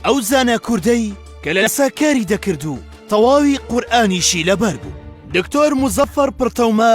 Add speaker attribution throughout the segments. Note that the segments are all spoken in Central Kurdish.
Speaker 1: ئەو زانا کوردەی کە لە سا کاری دەکرد و تەواوی قورئانیشی لەبەر بوو دکتۆر موزەفەر پڕتەومە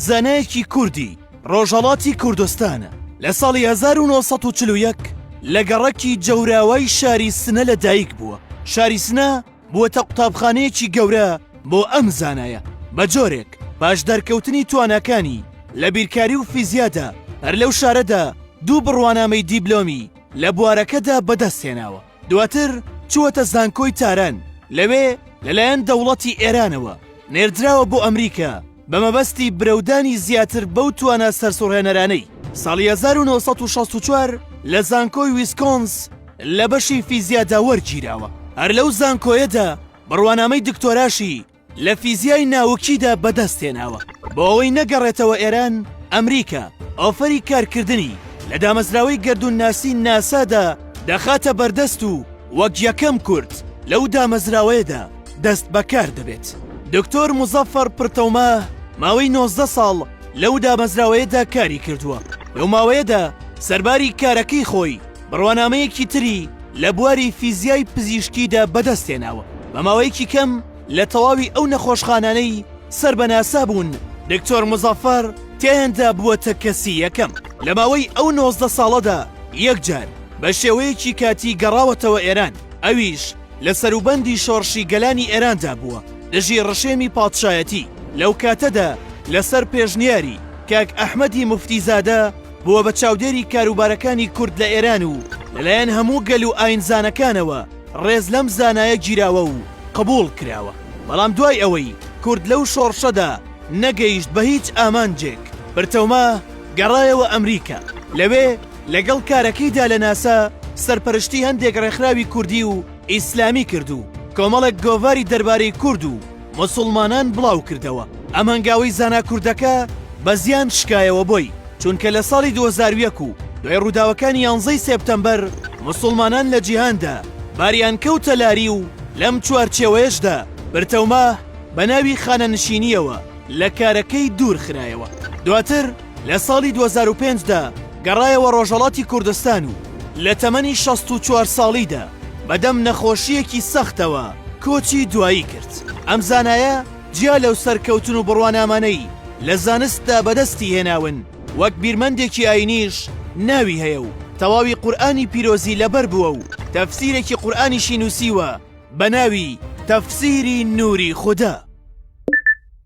Speaker 1: زانایەکی کوردی ڕۆژەڵاتی کوردستانە لە ساڵی 1940 لە گەڕەکی جەوراوای شاری سنە لە دایک بووە شاری سنە بووەتە قوتابخانەیەکی گەورە بۆ ئەم زانایە بە جۆرێک باش دەرکەوتنی توانەکانی لە بیرکاری و فیزیادا هەر لەو شارەدا دوو بڕوانامەی دیبلۆمی لە بوارەکەدا بەدەستهێناوە، دواتر چووەتە زانکۆی تاران، لەوێ لەلایەن دەوڵەتی ئێرانەوە نێردراوە بۆ ئەمریکا بە مەبەستی برەودانی زیاتر بەو توانا سەرسوڕهێنەرانەی ساڵی 1964 لە زانکۆی ویسکۆنس لە بەشی فیزیادا وەرگیراوە، هەر لەو زانکۆیەدا بڕوانامەی دکتۆراشی لە فیزیای ناوکیدا بەدەست هێناوە بۆ ئەوەی نەگەڕێتەوە ئێران ئەمریکا ئۆفەری کارکردنی لە دامەزراوەی گەردوونناسی ناسادا دەخاتە بەردەست و وەک یەکەم کورد لەو دامەزراوەیەدا دەست بەکار دەبێت دکتۆر مزەفەر پرتەوما ماوەی 19 ساڵ لەو دامەزراوەیەدا کاری کردووە لەو ماوەیەدا سەرباری کارەکەی خۆی بڕوانامەیەکی تری لە بواری فیزیای پزیشکیدا بەدەستهێناوە بە ماوەیەکی کەم لە تەواوی ئەو نەخۆشخانانەی سەر بە ناسا بوون دکتۆر مزەفەر تێندا بووەتە کەسی یەکەم لە ماوەی ئەو نۆزدە ساڵەدا یەکجار بە شێوەیەکی کاتی گەڕاوەتەوە ئێران ئەویش لە سەروبەندی شۆڕشی گەلانی ئێراندا بووە دژی ڕژێمی پادشایەتی لەو کاتەدا لەسەر پێشنیاری کاک ئەحمەدی مفتیزادە بووە بە چاودێری کاروبارەکانی کورد لە ئێران و لەلایەن هەموو گەل و ئاینزانەکانەوە ڕێز لەم زانایە گیراوە و قبووڵ کراوە بەڵام دوای ئەوەی کورد لەو شۆڕشەدا نەگەیشت بە هیچ ئامانجێک برتەوما گەڕایەوە ئەمریکا لەوێ لەگەڵ کارەکەیدا لە ناسا سەرپەرشتی هەندێک ڕێکخراوی کوردی و ئیسلامی کرد و کۆمەڵێک گۆڤاری دەربارەی کورد و موسوڵمانان بڵاو کردەوە، ئەم هەنگاوەی زانا کوردەکە بە زیان شکایەوە بۆی، چونکە لە ساڵی دوو هەزار و یەک و دوای ڕووداوەکانی یانزە ی سێپتەمبەر موسوڵمانان لە جیهاندا باریان کەوتە لاری و لەم چوارچێوەیەشدا پرتەوماه بە ناوی خانەنشینییەوە لە کارەکەی دوور خرایەوە دواتر لە ساڵی دوو هەزار و پێنج دا گەڕایەوە ڕۆژهەڵاتی کوردستان و لە تەمەنی شەست و چوار ساڵیدا بەدەم نەخۆشییەکی سەختەوە کۆچی دوایی کرد. ئەم زانایە جیا لەو سەرکەوتن و بڕوانامانەی لە زانستدا بەدەستی هێناون، وەک بیرمەندێکی ئایینیش ناوی هەیە و تەواوی قورئانی پیرۆزی لەبەر بووە و تەفسیرێکی قورئانیشی نووسیوە بە ناوی تەفسیری نووری خودا.